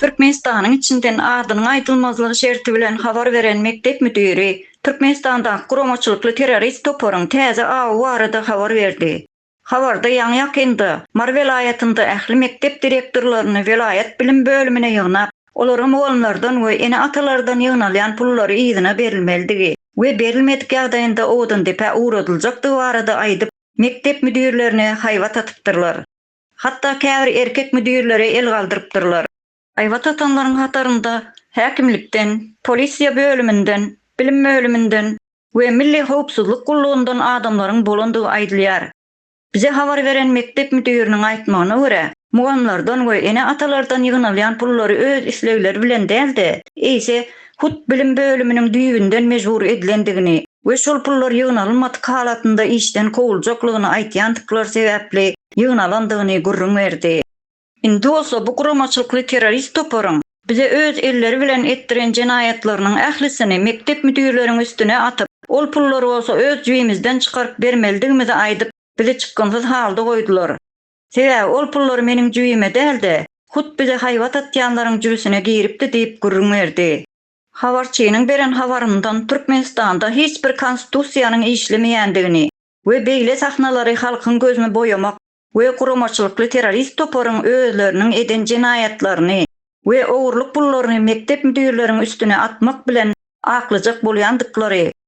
Türkmenistanyň içinden adynyň aýdylmazlygy şerti bilen habar beren mekdep müdiri Türkmenistandaky guramaçylykly terrorist toparyň täze awy barada habar berdi. Habarda ýaňy-ýakynda Mary welaýatynda ähli mekdep direktorlaryny welaýat bilim bölümine ýygnap, olara mugallymlardan we ene-atalardan ýygnalýan pullary yzyna berilmelidigi we berilmedik ýagdaýynda Owdandepä ugradyljakdygy barada aýdyp, Mekdep müdirlerine haýbat atypdyrlar. Hatda käbir erkek müdirlere el galdyrypdyrlar. Haýbat atanlaryň hatarynda häkimlikden, polisiýa bölüminden, bilim bölüminden we Milli howpsuzlyk gullugyndan adamlaryň bolandygy aýdylýar. Bize habar beren mekdep müdiriniň aýtmagyna görä, mugamlardan we ene-atalardan ýygnalýan pullary öz islegleri bilen däl-de, eýse, hut bilim bölüminiň düýbünden mejbur edilendigini we şol pullar ýygnalynmadyk halatynda işden kowuljaklygyny aýtýandyklary sebäpli ýygnalandygyny gürrüň berdi. Indi bolsa bu guramaçylykly terrorist toparyň bize öz elleri bilen etdiren jenaýatlarynyň ählisini mekdep müdirleriň üstüne atyp, ol pullary bolsa öz jübimizden çykaryp bermelidigimizi aýdyp, bizi çykgynsyz halda goýdular. Sebäbi ol pullar meniň jübime däl-de, hut bize haýbat atýanlaryň jübüsine giripdi diýip gürrüň berdi. Habarçynyň beren habaryndan Türkmenistanda hiç bir konstitusiýanyň işlemeýändigini we beýle sahnalary halkyň gözüni boýamak we guramaçylykly terrorist toparyň özleriniň eden jenaýatlaryny we ogurlyk pullaryny mekdep müdirleriň üstüne atmak bilen aklyjak bolýandyklary